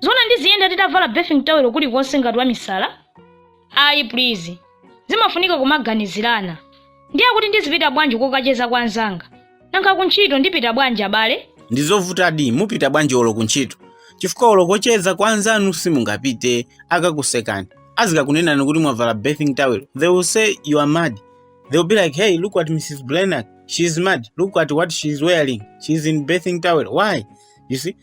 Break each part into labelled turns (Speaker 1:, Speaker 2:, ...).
Speaker 1: zona ndiziyenda nditavala bathing towel kulikonse ngati wamisala ayi please zimafunika kumaganizirana ndiye kuti ndizipita bwanji kokacheza kwa anzanga nanga kuntchito ndipita bwanji abale ndizovutadi
Speaker 2: mupita bwanji olo kuntchito chifukwa olo kocheza kwa anzanu simungapite akakusekanitu azikakunenani kuti mwavala bathing towel they will say you are mad they will be like hey look at mrs blenak she is mad look at what she is wearing she is in bathing towel why you see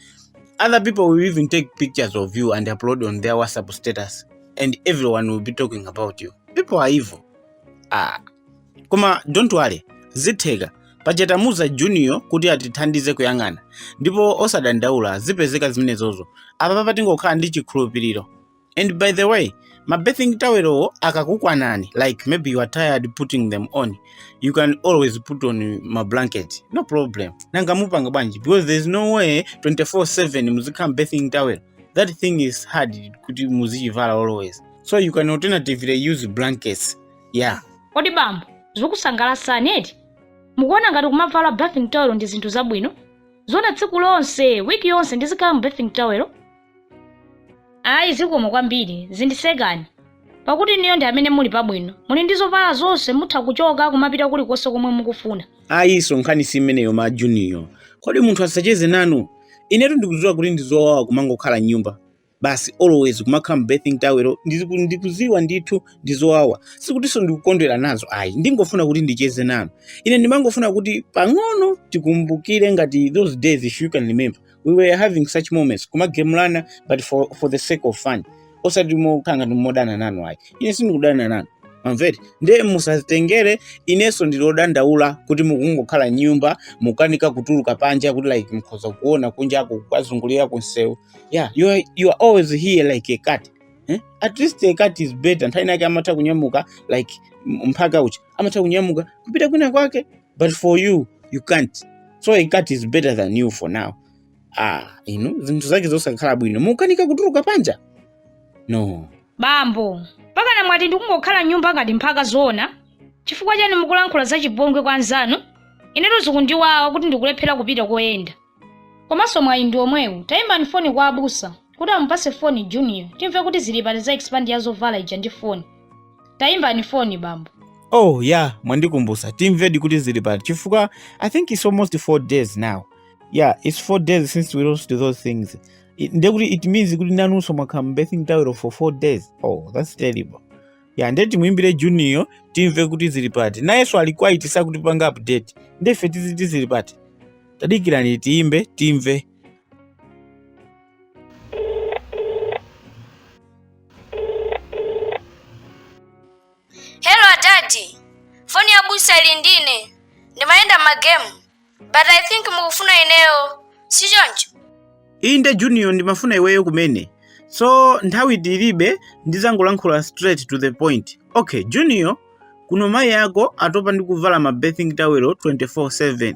Speaker 2: other people will even take pictures of you and upload on their whatsapp status and everyone will be talking about you people are evil ah. koma don't worry zitheka paja tamuuza junior kuti atithandize kuyang'ana ndipo osadandaula zipezeka zimenezozo apa patingokhala ndi chikhulupiriro and by the way ma bathing towel akakukwanani like maybe you are tired putting them on you can always put on ma blanket no problem nanga mupanga bwanji because there is no way 24/7 muzikhala mu bathing towel that thing is hard kuti muzichivala always so you can alternatively use blankets yeah kodi
Speaker 1: bambo zikukusangalasani eti mukuona ngati kumavala bathing towel ndi zinthu zabwino zona tsiku lonse wiki yonse ndizikhala mu bathing towel ayi zikomo kwambiri muzindiseka ni pakuti inuyo ndi amene muli pabwino muli ndi zovala zonse mutha kuchoka kumapita kulikonse komwe mukufuna ayinso nkhani si
Speaker 2: imeneyo ma junior kodi munthu asacheze nanu inetu ndikudziwa kuti ndizowawa kumangokhala m'nyumba basi always kumakhala mu bathing towel ndikuziwa ndithu ndizowawa sikutinso ndikukondwera nazo ayi ndingofuna kuti ndicheze nanu ine ndimangofuna kuti pang'ono tikumbukire ngati those days if you can remember we were having such moments kumagemulana but for the sake of fun osati mwina ndimadana nanu ayi ine sindikudana nanu mwamva eti nde musatengere inenso ndi odandaula kuti mukungokhala m'nyumba mukanika kutuluka panja kuti like mkhoza kuona kunjako kukazungulira kunsewu yeah you are, you are always here like a cat eh? at least a cat is better nthawi inayake amatha kunyamuka like mphaka uja amatha kunyamuka kupita kwina kwake but for you you can't so a cat is better than you for now ah inu zinthu zake zosakhala bwino mukanika kutuluka panja no
Speaker 1: bambo pakana mwati ndikungokhala m'nyumba ngati mphaka zoona chifukwa chani mukulankhula za chipongwe kwa anzanu inetu zikundiwawa kuti ndikulephera kupita koyenda Komanso mwayi ndi omwewu, taimbani foni kwa abusa kuti amupase foni Juniyo timve kuti zili pati za expand ya zovala zija ndi foni. Taimbani foni bambo. Oh yeah,
Speaker 2: mwandikumbusa timvedi kuti zili pati chifukwa I think it's almost four days now. Yeah, it's four days since we lost those things. It, ndekuti it means kuti nanunso mwakhala mu bathing towel for four days. Oh, that's terrible. ya nde timuimbire junior timve kuti zili pati nayenso ali quiet sakutipanga update nde ife tiziti zili pati tadikirani tiimbe timve
Speaker 3: hello adadi foni ya busa ili ndine ndimayenda magemu but i think mukufuna ineyo si choncho inde junior
Speaker 2: ndimafuna iweyo kumene so nthawi tilibe ndizangolankhula straight to the point okay junior kuno mayi ako atopa ndi kuvala ma bathing towel 24/7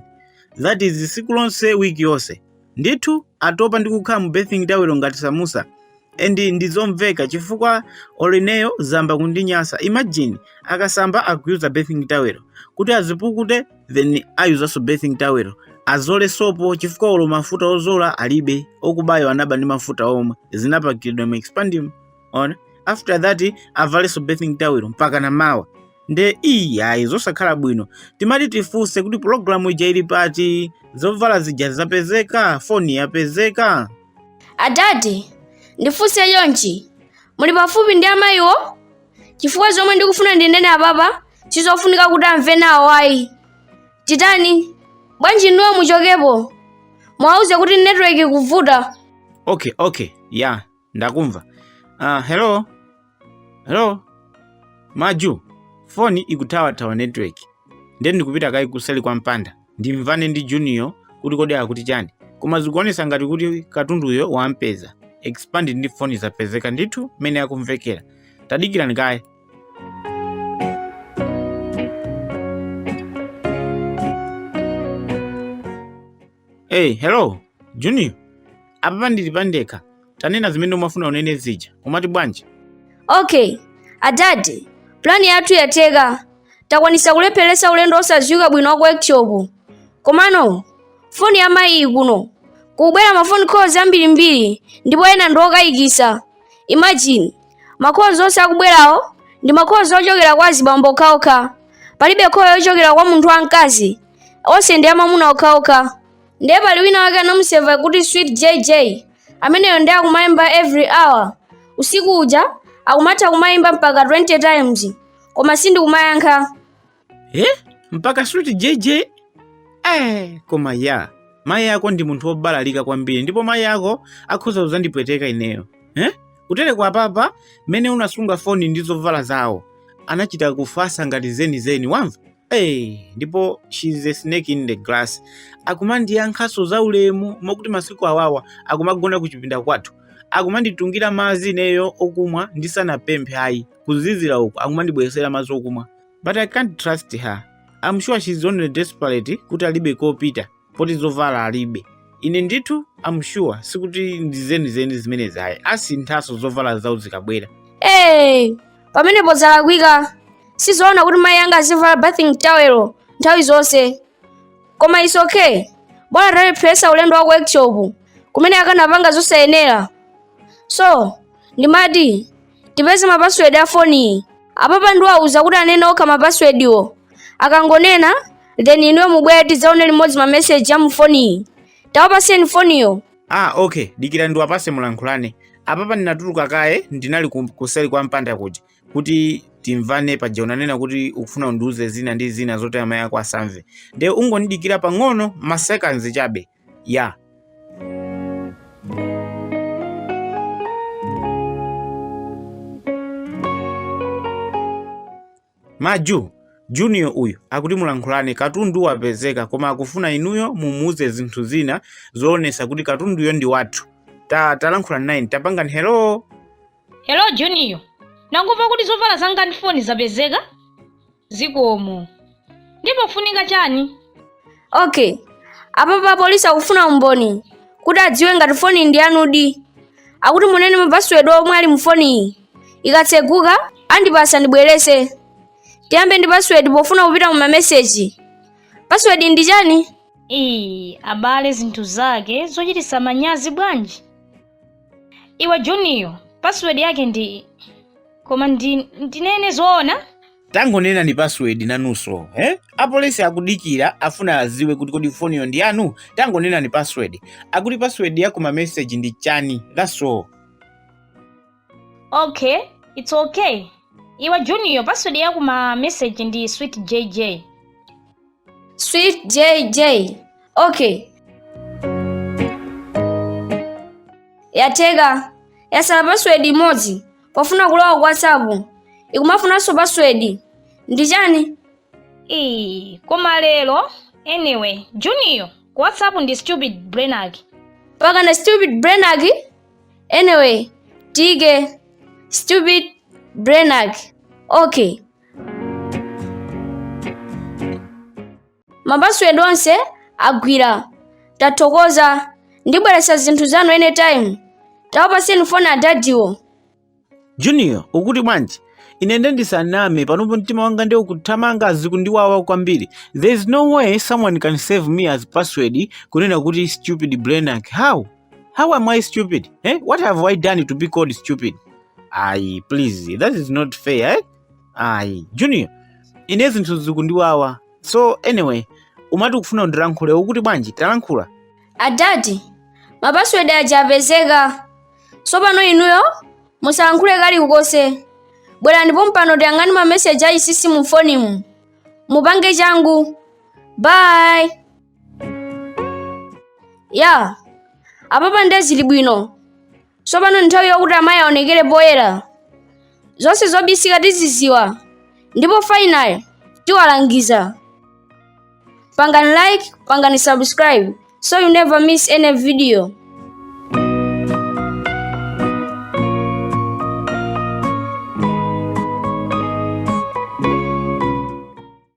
Speaker 2: that is siku lonse wiki yonse Ndithu atopa ndi kukhala mu bathing towel ngati samusa and ndi zomveka chifukwa olo ineyo zamba kundinyasa imagine akasamba akuyuza bathing towel kuti azipukute then ayuzanso bathing towel azole sopo chifukwa olo mafuta ozola alibe okubayo anaba ndi mafuta omwe zinapakidwa mu expand ona after that avalenso bathing towel mpaka na mawa nde ii ayi zosakhala bwino timati tifunse kuti pulogalamu ija ili pati zovala zija zapezeka foni yapezeka adadi
Speaker 3: ndifunse chonchi muli pafupi ndi amayiwo chifukwa zomwe ndikufuna ndinene apapa sizofunika kuti amve nawo ayi titani bwanji ndiwo muchokepo mwauze kuti netiweki kuvuta okay okay
Speaker 2: ya ndakumva ah, hello hello maju foni ikuthawathawa network nde ndikupita kayi kuseli kwa mpanda ndimvane ndi junior kuti kodi akuti chani koma zikuonesa ngati kuti katunduyo wampeza expand ndi foni zapezeka ndithu mmene akumvekera tadikirani kaye Hey, hello Junior, apa ndili pandekha. Tanena zimene umafuna unene zija. Umati bwanji? Okay,
Speaker 3: adadi, plani yathu yatheka. Takwanisa kulepheresa ulendo osadziwika bwino wa ku workshop. Komano, foni ya mayi kuno kukubwera ma phone calls ambirimbiri ndipo ena ndi okayikisa. Imagine, ma calls onse akubwerawo ndi ma calls ochokera kwa azibambo okhaokha. Palibe call yochokera kwa munthu wamkazi onse ndi amamuna okhaokha ndiye pali wina wake anamuseva kuti sweet jj ameneyo ndiye akumayimba every hour usiku uja akumatha kumayimba mpaka 20 times koma sindikumayankha eh?
Speaker 2: mpaka sweet jj eh, koma ya mayi ako ndi munthu wobalalika kwambiri ndipo mayi ako akhoza kuzandipweteka ineyo eh? kutereku apapa mmene unasungira foni ndi zovala zawo anachita kufasa ngati zenizeni wamva Hey, ndipo she's a snake in the grass akumandiyankhanso zaulemu mokuti masiku awawa akumagona kuchipinda kwathu akumanditungira madzi ineyo okumwa ndisanapemphe ayi kuzizira uku akumandibweresera madzi okumwa but i can't trust her i'm sure she's only desperate kuti alibe kopita poti zovala alibe ine ndithu I'm sure sikuti ndi zenizeni zimene zayi asinthanso zovala zawo zikabwera Hey,
Speaker 3: pamenepo zalakwika sizoona kuti mayi anga azivala bathing towel nthawi zonse koma it's okay bola talepheretsa ulendo wa ku workshop kumene akanapanga zosayenera so ndimati tipeze mapasiwedi a foniyi apapa ndiwauza kuti anene okha mapasiwediwo akangonena then inuyo mubwere tidzaone limodzi mameseji a mufoniyi tawapaseni foniyo ah okay dikira
Speaker 2: ndiwapase mulankhulane apapa ndinatuluka kaye ndinali ku- kuseri kwa mpanda kuja kuti timvane paja unanena kuti ukufuna undiuze zina ndi zina zoti amayi ako asamve nde ungondidikira pang'ono masekanzi chabe ya maju junior uyu akuti mulankhulane katundu wapezeka koma akufuna inuyo mumuuze zinthu zina zoonesa kuti katunduyo ndi wathu ta talankhulani naye tapangani hello hello
Speaker 1: junior nangumva kuti zovala zanga ndi foni zapezeka Zikomo. Ndipo pakufunika
Speaker 3: chani? Okay. Apapa apolisi akufuna umboni kuti adziwe ngati foni ndi yanudi. Akuti munene mapasiwedi omwe ali mu foniyi. Ikatseguka andipasa ndibwerese. Tiyambe ndi pasiwedi pofuna kupita mu mameseji. Pasiwedi ndi chani? Ee,
Speaker 1: abale zinthu zake zochititsa manyazi bwanji? iwe junior password yake ndi koma ndinene zoona tangonenani
Speaker 2: password nanunso eh? apolisi akudikira afuna aziwe kuti kodi foniyo ndi yanu tangonenani password akuti password ya kuma message ndi chani that's
Speaker 1: all okay it's okay iwe junior password ya kuma message ndi sweet jj
Speaker 3: Sweet JJ. Okay. Yatheka. Yasala password imodzi. Pofuna kulowa ku WhatsApp. Ikumafunanso password. Ndi chani?
Speaker 1: Ee, koma lero anyway, Junior, ku WhatsApp ndi stupid Brenak. Mpakana
Speaker 3: stupid Brenak. Anyway, tione stupid Brenak. Okay. mapaswedi onse agwira tathokoza ndibweretsa zinthu zanu anytime tawapatseni foni adadiwo
Speaker 2: junior ukuti bwanji ine nde ndisaname panopo mtima wanga nde ukuthamanga zikundiwawa kwambiri there is no way someone can save me as password kunena kuti stupid brainac how how am i stupid eh? what have i done to be called stupid ayi please that is not fair eh? ayi junior ine zinthu zikundiwawa so anyway umati ukufuna undilankhule ukuti bwanji talankhula
Speaker 3: adadi mapaswedi aja apezeka tsopano inuyo musalankhule kalikonse bwerani ndipo mpano tiyang'ane mameseji achinsinsi mu fonimu mupange changu bye ya apapa nde zili bwino tsopano nthawi yokuti amayi aonekere poyera zonse zobisika tiziziwa ndipo finally tiwalangiza pangani like pangani subscribe so you never miss any video